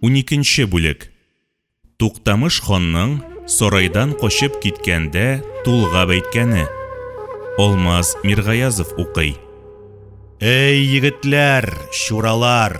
Уникенче бүлек. Туктамыш ханның сарайдан качып киткәндә тулгап әйткәне. Алмаз Миргаязов укый. Әй, егетләр, чуралар!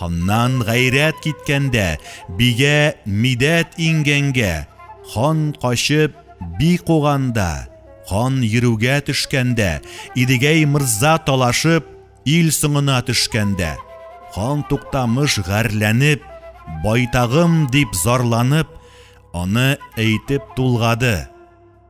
Ханнан гайрәт киткәндә, бигә мидәт иңгәнгә, хан качып, би куганда, хан йөрүгә төшкәндә, Идегәй мырза талашып, ил соңына төшкәндә, хан Туктамыш гарьләнеп, байтагым дип зарланып, аны әйтеп тулгады.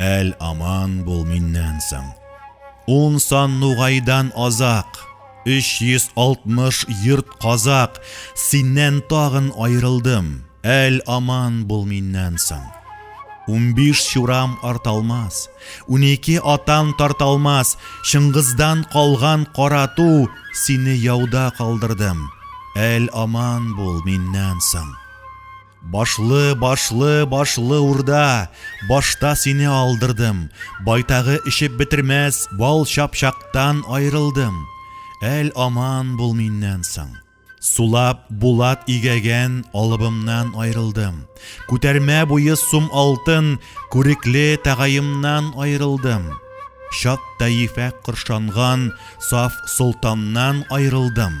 Әл аман бул миннән соң. Ун сан нугайдан азак, 360 йорт казак, синнән тагын аерылдым. Әл аман бул миннән соң. Унбиш чурам арталмас, унике атан тарталмас, Чыңгыздан калган карату, сине яуда калдырдым. Әл аман бул миннән соң. Башлы, башлы, башлы урда, Башта сине алдырдым, Байтагы эчеп бетермәс Бал чапчактан аерылдым. Әл аман бул миннән соң. Сулап булат игәгән алыбымнан аерылдым. Күтәрмә буе сум алтын күрекле тәгаемнан аерылдым. Чат тәифә коршанган саф солтаннан аерылдым.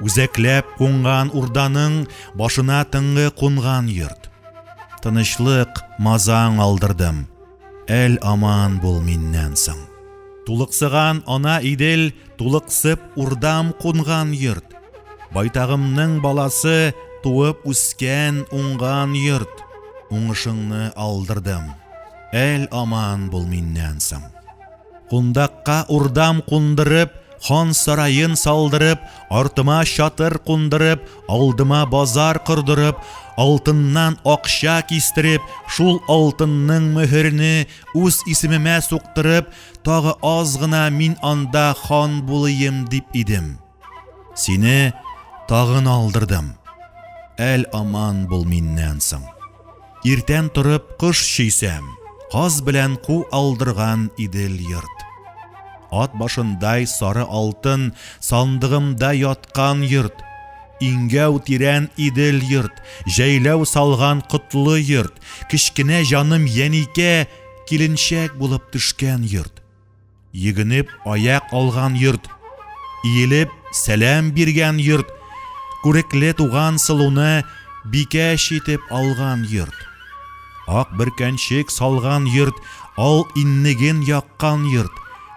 Үзәкләп кунган урданың башына тыңгы кунган йорт. Тынычлык мазаң алдырдым. Әл аман бул миннән соң. Тулыксыган ана Идел, тулыксып урдам кунган йорт. Байтагымның баласы туып үскән, уңган йорт. Уңышыңны алдырдым. Әл аман бул миннән соң. Кундакка урдам кундырып, хан сараен салдырып, артыма чатыр кундырып, алдыма базар кордырып, алтыннан акча кистереп, шул алтынның мөһерне үз исемемә суктырып, тагы аз гына мин анда хан булыйм дип идем. Сине тагын алдырдым. Әл аман бул миннән соң. Иртән торып кыш чөйсәм, каз белән ку алдырган идел йорт. Ат башындай сары алтын сандыгымда яткан йорт. Иңгәү тирән идел йорт, җәйләү салган котлы йорт, кечкенә җаным Яникә киленчәк булып төшкән йорт. Йөгенеп аяк алган йорт, иелеп сәлам биргән йорт, күрекле туган сылуны бикәч итеп алган йорт. Ак бөркәнчек салган йорт, ал иннеген яккан йорт,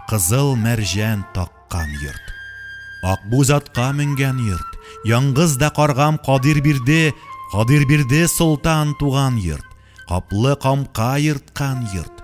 кызыл мәрҗән таккан йорт. Акбүз атка менгән йорт, яңгыз да каргам Кадир бирде, Кадир бирде солтан туган йорт, каплы камка ерткан йорт.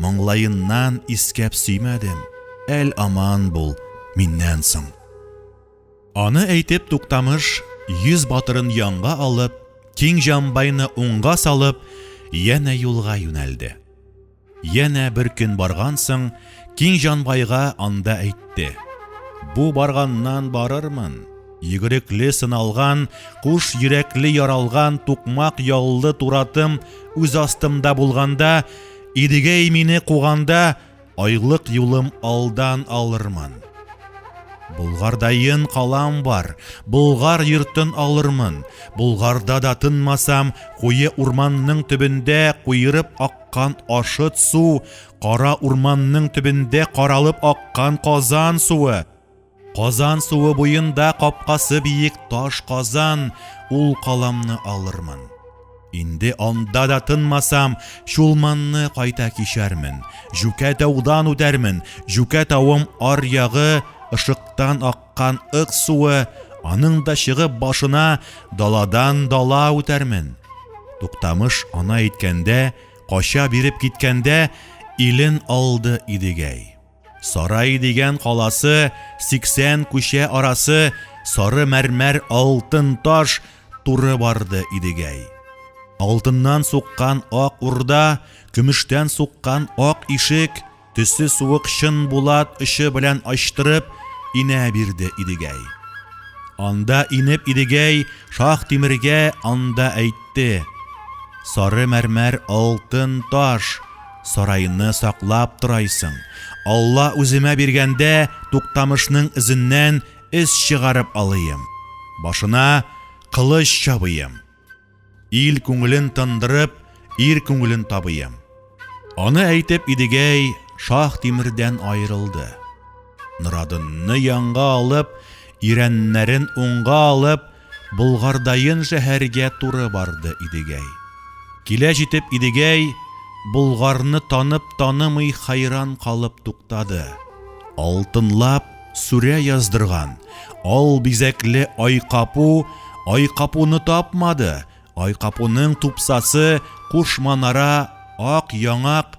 Моңлаеннан искәп сөймәдем, әл аман бул миннән соң. Аны әйтеп туктамыш, йөз батырын янга алып, киң җамбайны уңга салып, янә юлга юнәлде. Янә бер көн барган соң, киң җанбайга анда әйтте. Бу барганнан барырмын. Йөгерекле сыналган, куш йөрәкле яралган, тукмак яллы туратым үз астымда булганда, Идегәй мине куганда, айлык юлым алдан алырмын. Болгардаен калам бар, Болгар йортын алырмын. Болгарда да тынмасам, куе урманның төбендә куерып аккан ашыт су, кара урманның төбендә каралып аккан казан суы, Казан суы буенда капкасы биек таш казан, ул каламны алырмын. Инде анда да тынмасам, Чулманны кайта кичәрмен, Җүкә таудан үтәрмен, Җүкә тавым ар ягы, ышыктан аккан ык суы, аның да чыгып башына, Даладан дала үтәрмен. Туктамыш ана әйткәндә, Кача биреп киткәндә, Илен алды Идегәй. Сарай дигән каласы, сиксән күчә арасы, сары мәрмәр алтын таш туры барды Идегәй. Алтыннан суккан ак урда, көмештән суккан ак ишек, төсе суык чын булат очы белән ачтырып, инә бирде Идегәй. Анда инеп Идегәй шах тимергә анда әйтте. Сары мәрмәр алтын таш, Сарайны саклап торайсың. Алла үземә биргәндә, Туктамышның эзеннән эз чыгарып алыйм. Башына кылыч чабыйм. Ил күңелен тындырып, ир күңелен табыйм. Аны әйтеп Идегәй Шаһ Тимердән аерылды. Норадынны янга алып, ирәннәрен уңга алып, Болгардаен шәһәргә туры барды Идегәй. Килә җитеп Идегәй Болгарны танып-танымый хәйран калып туктады. Алтынлап сүрә яздырган ал бизәкле айкапу айкапуны тапмады, айкапуның тупсасы куш манара, ак яңак,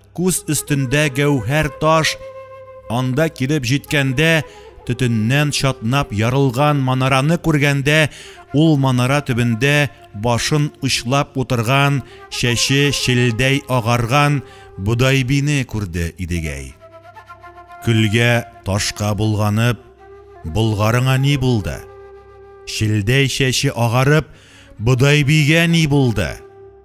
Күз өстендә гәүһәр таш, анда килеп җиткәндә, төтеннән чатнап ярылган манараны күргәндә, ул манара төбендә башын очлап утырган, чәче челдәй агарган Бодайбине күрде Идегәй. Көлгә ташка болганып, Болгарыңа ни булды? Челдәй чәче агарып, Бодайбигә ни булды?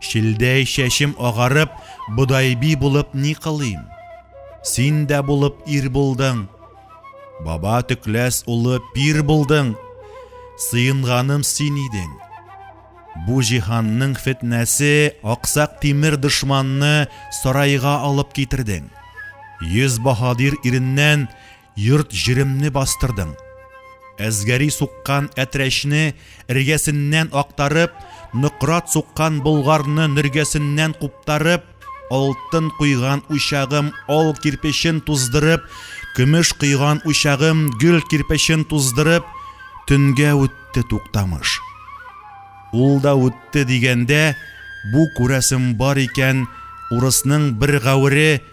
Шилдәй чәчем агарып, бодайби булып ни кылыйм? Син дә булып ир булдың. Баба төкләс улы пир булдың. Сыенганым син идең. Бу җиһанның фетнәсе аксак тимер дошманны сарайга алып китердең. Йөз баһадир иреннән Йорт-җиремне бастырдың. Әзгәри суккан әтрәчне эргәсеннән актарып, нократ суккан болгарны нөргәсеннән куптарып, алтын куйган учагым ал кирпечен туздырып, көмеш куйган учагым гөл кирпечен туздырып, төнгә үтте Туктамыш. Ул да үтте дигәндә, бу, күрәсем бар икән, урысның бер гәвере,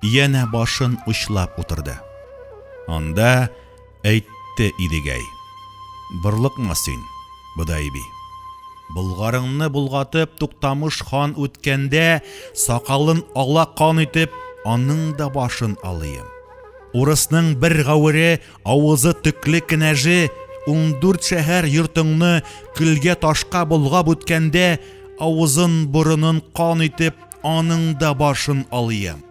Янә башын учлап утырды. Анда әйтте Идегәй. Борлыкма син, Бодайби. Болгарыңны болгатып, Туктамыш хан үткәндә, сакалын ала кан итеп, аның да башын алыйм. Урысның бер гавыре, авызы төкле кенәже, ундүрт шәһәр йортыңны көлгә-ташка болгап үткәндә, авызын-борынын кан итеп, Аның да башын алыйм.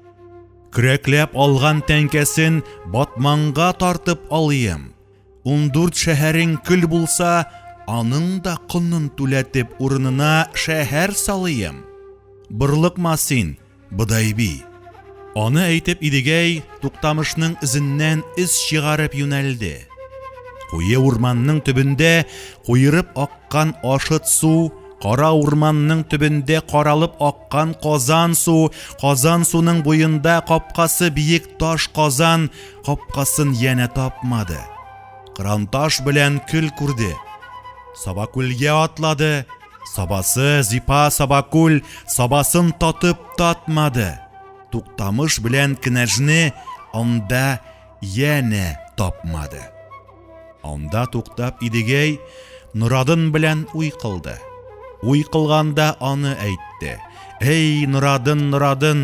Көрәкләп алган тәңкәсен батманга тартып алыйм. Ундүрт шәһәрең көл булса, аның да конын түләтеп урынына шәһәр салыйм. Бырлыкма син, Бодайби. Аны әйтеп Идегәй Туктамышның эзеннән эз чыгарып юнәлде. Куе урманның төбендә куерып аккан ашыт су Кара урманның төбендә каралып аккан казан су, казан суның буенда капкасы биек таш казан капкасын янә тапмады. Кыранташ белән көл күрде. Сабакүлгә атлады. Сабасы, зипа, сабакүл, сабасын татып татмады. Туктамыш белән кенәжне анда янә тапмады. Анда туктап Идегәй Норадын белән уй кылды. Уй кылганда аны әйтте. Әй, Норадын, Норадын,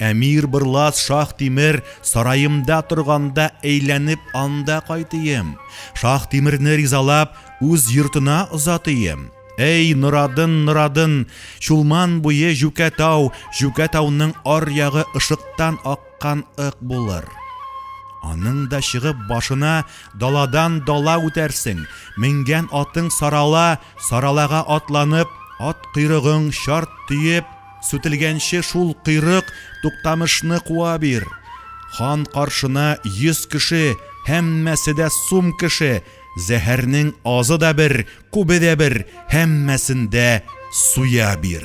әмир Бырлас Шах Тимер сараемда торганда әйләнеп анда кайтыйм. Шах Тимерне ризалап, үз йортына озатыйм. Әй, Норадын, Норадын, Чулман буе Җүкәтау, Җүкәтауның ар ягы ышыктан ак чыккан ык булыр. Аның да чыгып башына даладан дала үтәрсең, менгән атың сарала, саралага атланып, ат койрыгың чарт төеп, сүтелгәнче шул койрык туктамышны куа бир. Хан каршына йөз кеше, һәммәсе дә сум кеше, зәһәрнең азы да бер, күбе дә бер, һәммәсен дә суя бир.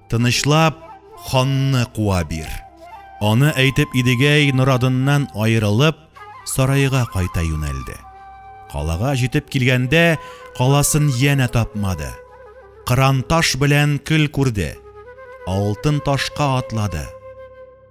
Тынычлап, ханны куа бир. Аны әйтеп Идегәй Норадыннан аерылып, сараега кайта юнәлде. Калага җитеп килгәндә, каласын янә тапмады. Кыран таш белән көл күрде. Алтын ташка атлады.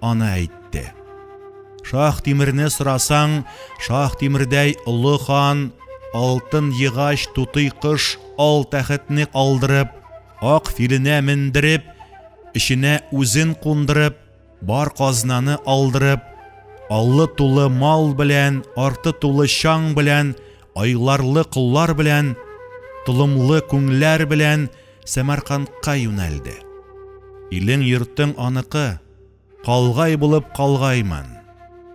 аны әйтте. Шах Тимерне сорасаң, Шах Тимердәй олы хан алтын егач тутый кыш ал тәхетне алдырып, ак филенә мендереп, эченә үзен кундырып, бар казнаны алдырып, аллы тулы мал белән, арты тулы чаң белән айларлы коллар белән, толымлы күңләр белән Сәмәркандка юнәлде. Илең-йортың аныкы, калгай булып калгаймын.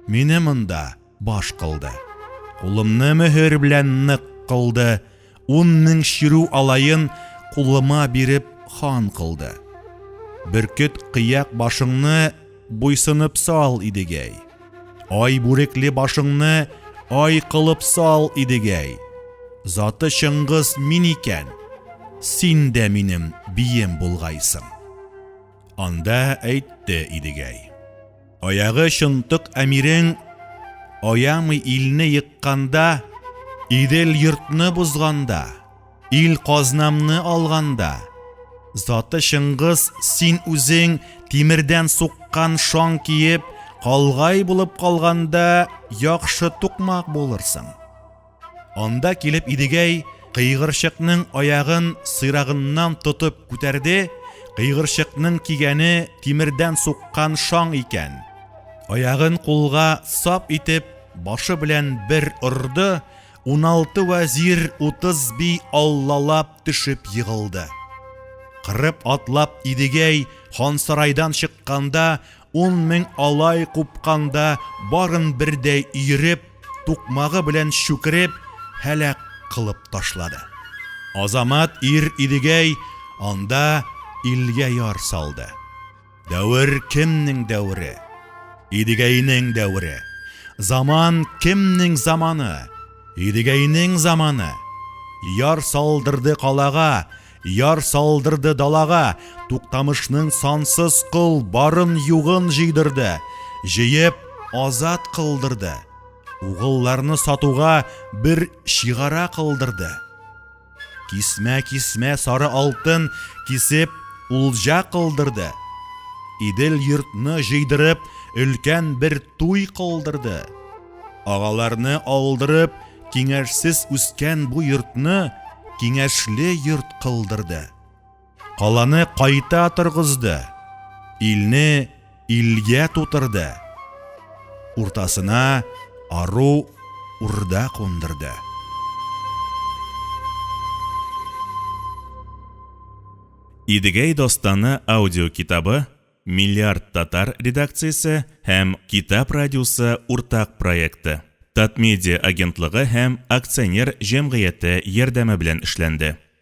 Мине монда баш кылды. Кулымны мөһер белән нык кылды, ун мең чирү алаен кулыма биреп хан кылды. Бөркет кыяк башыңны Буйсынып сал, Идегәй. Ай бүрекле башыңны ай кылып сал, Идегәй. Заты Чыңгыз мин икән, син дә минем бием булгайсың. Анда әйтте Идегәй. Аягы чынтык әмирең аямый илне екканда, Идел йортны бозганда, Ил казнамны алганда, заты Чыңгыз, син үзең тимердән суккан шаң киеп, калгай булып калганда, яхшы тукмак булырсың. Анда килеп Идегәй кыйгырчыкның аягын сыйрагыннан тотып күтәрде, кыйгырчыкның кигәне тимердән суккан шаң икән. Аягын кулга сап итеп, башы белән бер орды, Уналты вәзир, утыз би аллалап төшеп егылды. Кырып атлап Идегәй хансарайдан чыкканда, ун мең алай купканда, барын бердәй өереп, тукмагы белән чүкереп, һәлак кылып ташлады. Азамат ир Идегәй анда илгә яр салды. Дәвер кемнең дәвере? Идегәйнең дәвере. Заман кемнең заманы? Идегәйнең заманы. Яр салдырды калага, яр салдырды далага, Туктамышның сансыз кыл барын югын җыйдырды, җыеп азат кылдырды. Угылларны сатуга бер чигара кылдырды. Кисмә-кисмә сары алтын кисеп, улҗа кылдырды. Идел йортны җыйдырып, өлкән бер туй кылдырды. Агаларны алдырып, киңәшсез үскән бу йортны киңәшле йорт кылдырды. каланы кайта торгызды, илне илгә тутырды, уртасына ару урда кундырды. Идегәй достаны аудиокитабы Миллиард татар редакциясе һәм Китап радиосы уртак проекты. Татмедиа агентлыгы һәм акционер җәмгыяте ярдәме белән эшләнде.